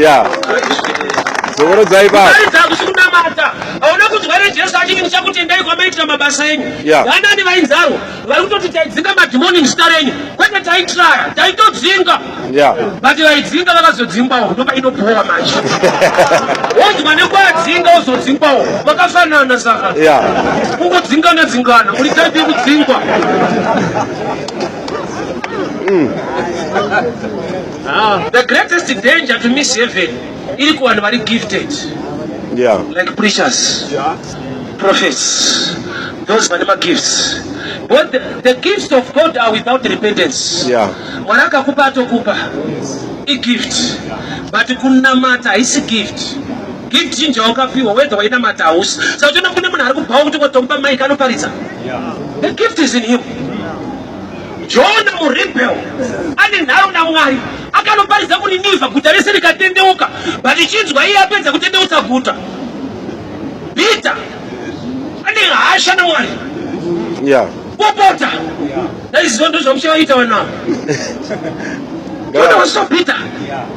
ya zokorodzai baba kunamata hauna kunzwere jesu achiti ndichakutendai kwamaitira mabasa enyu vanani vainzarwa vari kutoti taidzinga madhimoni muzita renyu kwete taitraya taitodzinga but vaidzinga vakazodzingwawo ndopainobhowa manje wonzwa nekuadzinga ozodzingwawo vakafanana saka kungodzingana dzingana muri taipi yekudzingwa Mm. Ah, the greatest danger to miss heaven iri kuvanhu vari gifted yeah. like preachers yeah. prophets those vane magifts but the, the gifts of god are without repentance yeah. mwari akakupa atokupa igift but kunamata haisi gift Gift chinji yawakapiwa whether wainamata hausi saka uchiona kune munhu ari kubhawa kuti watomupa mic anoparidza the gift is in him jona murebel ane nharo namwari akanoparidza kuniniva guta rese rikatendeuka but chinzwa iye apedza kutendeutsa guta peter ane hasha namwari yeah. wapota yeah. that is zvondo zvamuchavaita vanavo jona was so peter yeah.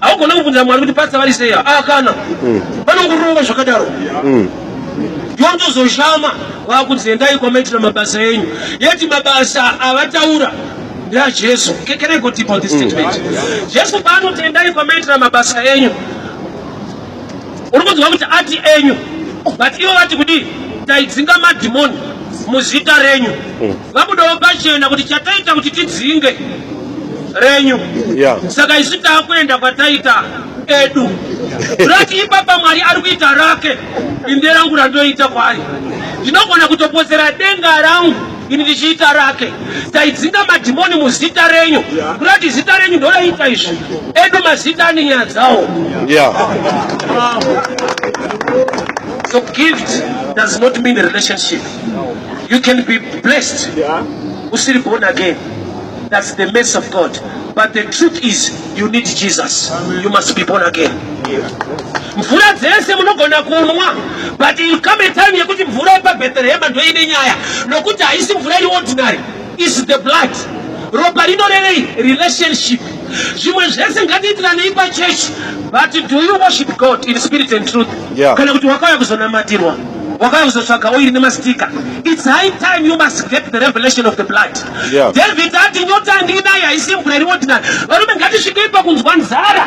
haugona kubvunza mwari kuti patsa vari sei aa ah, kana mm. vanongorova zvakadaro mm. yondozoshama wakunzi endai kwamaitira mabasa enyu yeti mabasa avataura ndeajesu can i go deep on this mm. statement jesu paanoti endai kwamaitira mabasa enyu uri kunzwa kuti ati enyu but ivo vati kudii taidzinga madhimoni muzita renyu Vabudawo pachena kuti chataita kuti tidzinge renyu yeah. Saka isu takuenda kwataita edu rati ipapa mwari ari kuita rake inde rangu randoita kwaari ndinogona kutopotsera denga rangu ini ndichiita rake taidzinga madhimoni muzita renyu kurati zita renyu ndoraita izvi edu mazita ane nyaya dzawo so gift does not mean relationship You can be blessed usiri born again. That's the mercy of God. But the truth is you need Jesus. You must be born again. mvura dzese munogona kunwa but you come a time yekuti mvura yepabheterehema ndoine nyaya nokuti haisi mvura iri ordinary is the blood ropa rinorevei relationship zvimwe zvese ngatiitiranei pachechi but do you worship god in spirit and truth yeah. kana kuti wakauya kuzonamatirwa wakauya kuzotsvaga oiri nemastika its high time you must get the revelation of the blood yeah. david ati nyota ndinai haisi mvura iri ordinary varume ngatisvikei pakunzwa nzara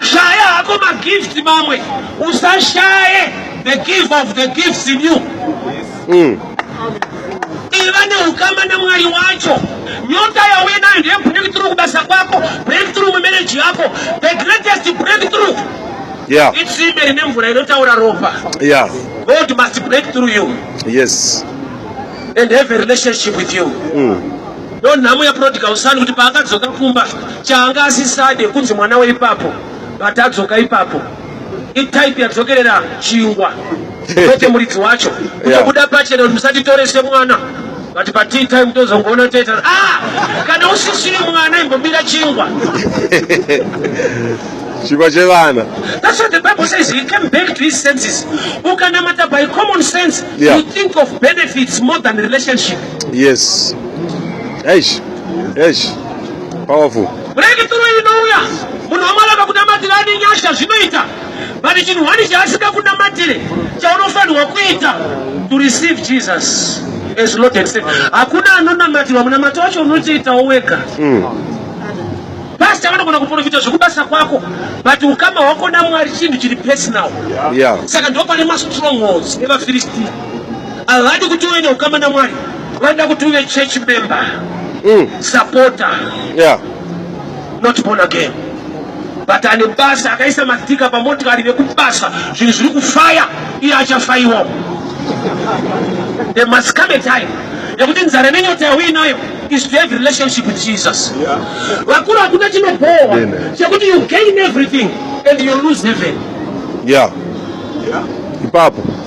Shaya hako magift mamwe usashaye the gift of the gifts in you. Mm. Iva neukama namwari wacho nyota yauye nayo ndeye breakthrough kubasa kwako breakthrough mumereji yako the greatest breakthrough yeah. itsimbe rine mvura inotaura ropa yeah. god must break through you yes and have a relationship with you mm. Ndonhamo ya prodigal son kuti paakadzoka kumba chaanga asisade kunzi mwana weipapo but adzoka ipapo itype yadzokerera chingwa kwete muridzi wacho kutobuda pachena kuti musatitore semwana but patii time tozongoona toita ah kana usisiri mwana imbobira chingwa chingwa chevana that's what the bible says he came back to his senses ukanamata by common sense yeah. you think of benefits more than relationship Yes. Eish. Eish. Powerful. Breakthrough inouya. Munhu wamwari akakunamatira ane nyasha zvinoita. But chinhu wani chaasika kunamatire chaunofanirwa kuita to receive Jesus as Lord and Savior. Hakuna anonamatirwa munamato wacho unotoitawo wega. Mm. Pastor vanogona kuprofita zvekubasa kwako but ukama hwako naMwari chinhu chiri personal. Yeah. Saka ndopane mastrongholds evaFilistia. Havadi kuti uve neukama naMwari, vanoda kuti uve church member, mm. supporter, yeah. not born again. But ane basa akaisa matika pamotikari vekubasa, zvinhu zviri kufaya, iye achafaiwa. There must come a time yekuti nzara nenyota yauinayo is to have relationship with Jesus. Vakuru hakuna chinobowa chekuti you gain everything and you lose heaven. Yeah. Yeah. Ipapo.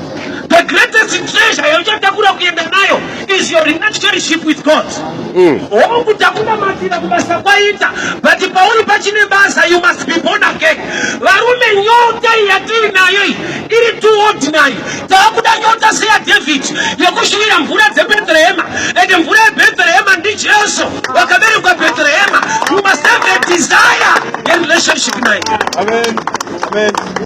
The greatest treasure yauchatakura kuenda nayo is your relationship with God. Mm. Hongu takunamatira kubasa kwaita but pauri pachine basa you must be born again. Varume nyota yatiri nayo iri too ordinary. Takuda nyota seya David yekushuvira mvura dzeBethlehema and mvura yeBethlehema ndiJesu wakaberekwa Bethlehema. You must have a desire in relationship naye. Amen. Amen.